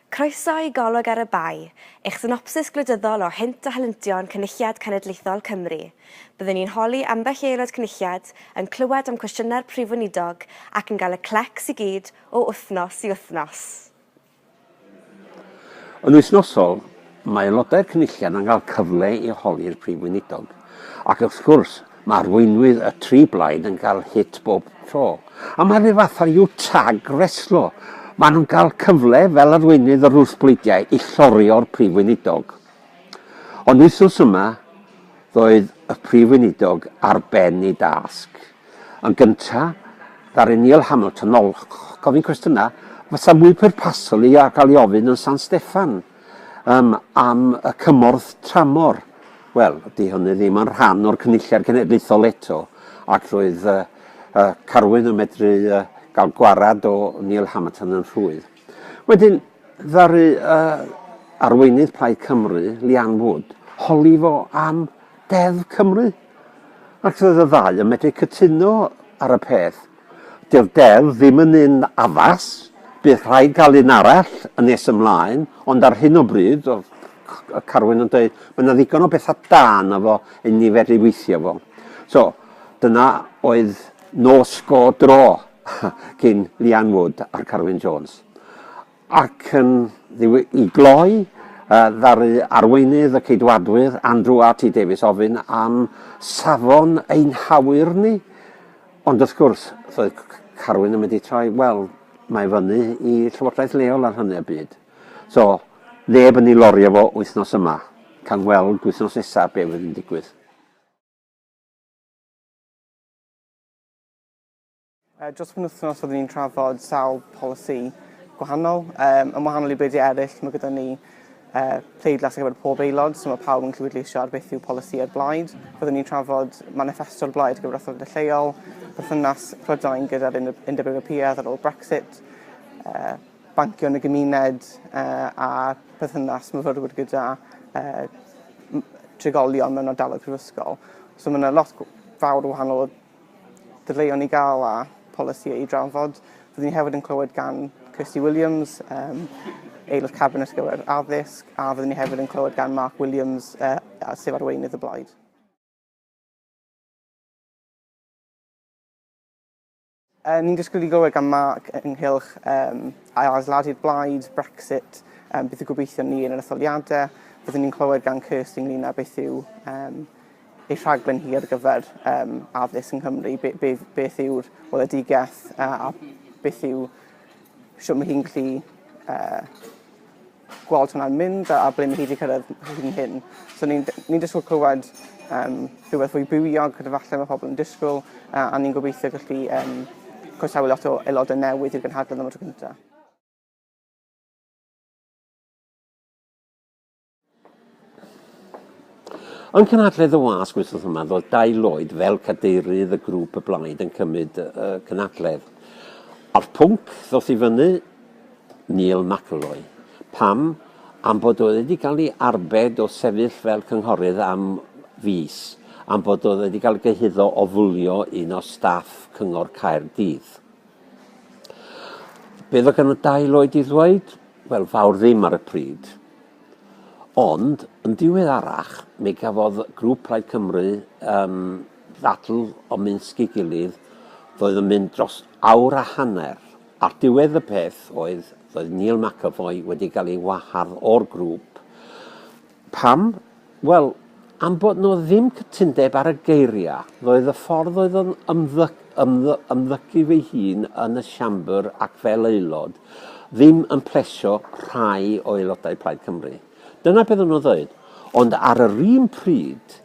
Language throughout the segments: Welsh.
Croeso i Golwg ar y Bae, eich synopsis gwleidyddol o hynt a helyntion Cynulliad Cenedlaethol Cymru. Byddwn ni'n holi ambell i aelod Cynulliad, yn clywed am cwestiynau'r Prif Weinidog ac yn cael y clecs i gyd o wythnos i wythnos. Yn wythnosol, mae aelodau'r Cynulliad yn cael cyfle i holi'r Prif Weinidog ac, wrth gwrs, Mae arweinwyr y tri blaid yn cael hit bob tro. A mae rhyw fath o you tag reslo. Maen nhw'n cael cyfle fel arweinydd yr wrthbleidiau i llorio'r Prif Weinidog. Ond wythnos yma, roedd y Prif Weinidog ar ben ei dasg. Yn gyntaf, ddaru Neil Hamilton ol gofyn cwestiynau fysa mwy pwrpasol i gael ei ofyn yn San Steffan. Yym, am y cymorth tramor, wel, 'di hynny ddim yn rhan o'r Cynulliad Cenedlaethol eto, ac roedd yy yy Carwyn yn medru yy gael gwarad o Neil Hamerton yn rhwydd. Wedyn, ddaru yy arweinydd Plaid Cymru, Leanne Wood, holi fo am Deddf Cymru. Ac roedd y ddau yn medru cytuno ar y peth. Dyw'r deddf ddim yn un addas, bydd rhaid cael un arall yn nes ymlaen, ond ar hyn o bryd, fel y Carwyn yn dweud, mae yna ddigon o bethau da yna fo i ni fedru weithio fo. So, dyna oedd nos go dro cyn Leanne Wood a'r Carwyn Jones. Ac yn ddiw i gloi, ddaru arweinydd y Ceidwadwyr, Andrew RT Davies ofyn am safon ein hawyr ni, ond wrth gwrs, roedd Carwyn yn mynd i troi, wel, mae fyny i llywodraeth leol ar hynny o bryd. So, neb yn ei lorio fo wythnos yma. Cawn weld wythnos nesaf be fydd yn digwydd. Dros y penwythnos oeddwn i'n trafod sawl polisi gwahanol. Yym, yn wahanol i bleidiau eraill, mae gyda ni yy pleidlais ar gyfer pob aelod, so mae pawb yn gallu pleidleisio ar beth yw polisïau'r blaid. Byddwn ni'n trafod maniffesto'r blaid ar gyfer etholiadau lleol, perthynas Prydain gyda'r Undeb Undeb Ewropeaidd ar ôl Brexit, yy bancio yn y gymuned yy a perthynas myfyrwyr gyda yy m- trigolion mewn ardaloedd prifysgol. So mae yna lot gw- fawr o wahanol Dadleuon i gael a polisïau i drafod. Rydyn ni hefyd yn clywed gan Kirsty Williams, um, aelod cabinet gyfer addysg, a rydyn ni hefyd yn clywed gan Mark Williams, uh, sef arweinydd y blaid. Uh, ni'n disgwyl i glywed gan Mark ynghylch um, ail-adeiladu'r blaid, Brexit, um, beth yw gobeithio ni yn yr etholiadau. Byddwn ni'n clywed gan Kirsty ynglyn â beth yw um, y rhaglen hir ar gyfer um, addysg yng Nghymru, be, be, beth yw'r weledigaeth a, a beth yw sio mae hi'n gallu uh, gweld hwnna'n mynd a, a ble mae hi wedi cyrraedd hyn hyn. So ni'n ni disgwyl clywed um, rhywbeth fwy bywiog gyda falle mae pobl yn disgwyl uh, a ni'n gobeithio gallu um, croesawu lot o aelodau newydd i'r gynhadledd am y tro cyntaf. Yng Nghynhadledd y Wasg wythnos yma, roedd Dai Lloyd fel cadeirydd y grŵp y blaid yn cymryd y cynhadledd. A'r pwnc ddoth i fyny, Neil McElroy. Pam? Am bod oedd wedi cael ei arbed o sefyll fel cynghorydd am fis, am bod oedd wedi cael ei gyhuddo o fwlio un o staff Cyngor Caerdydd. Beth oedd gan y dail oed i ddweud? Wel, fawr ddim ar y pryd. Ond, yn diweddarach, mi gafodd grŵp Plaid Cymru um, ddadl o Minsg i gilydd, ddoedd yn mynd dros awr a hanner. Ar diwedd y peth oedd, ddoedd Neil McAvoy wedi cael ei wahardd o'r grŵp, Pam? Wel, am bod 'no ddim cytundeb ar y geiria', ddoedd y ffordd oedd o'n ymddy- ymddy- ymddygu fy hun yn y Siambr ac fel Aelod ddim yn plesio rhai o Aelodau Plaid Cymru. Dyna beth o'n nhw'n ddweud. Ond ar yr un pryd,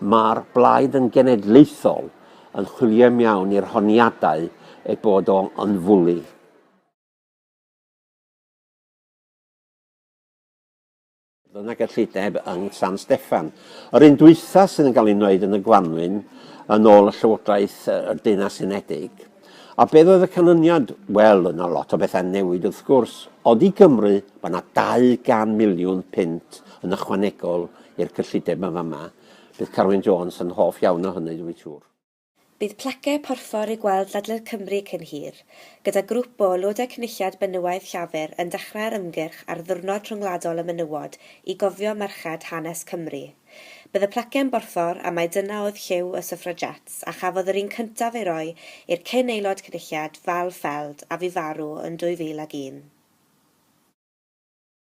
mae'r Blaid yn genedlaethol yn chwilio i mewn i'r honiadau ei bod o yn fwli. yn y gyllideb yng San Steffan. Yr un dwytha sydd yn cael ei wneud yn y gwanwyn yn ôl y Llywodraeth y Deunau Unedig. A beth oedd y canlyniad? Wel, yna lot o bethau newid wrth gwrs, ond i Gymru mae yna 200 miliwn punt yn ychwanegol i'r cyllideb yma yma. Bydd Carwyn Jones yn hoff iawn o hynny dwi'n siŵr. Bydd plaque porffor i gweld ledled Cymru cyn hir, gyda grŵp o Aelodau Cynulliad Benywaidd Llafur yn dechrau'r ymgyrch ar Ddiwrnod Rhyngwladol y Menywod i gofio merched hanes Cymru. Bydd y plaque yn borffor a mai dyna oedd lliw y Suffragettes a chafodd yr un cyntaf ei roi i'r cyn Aelod Cynulliad Val Feld a fu farw yn 2001.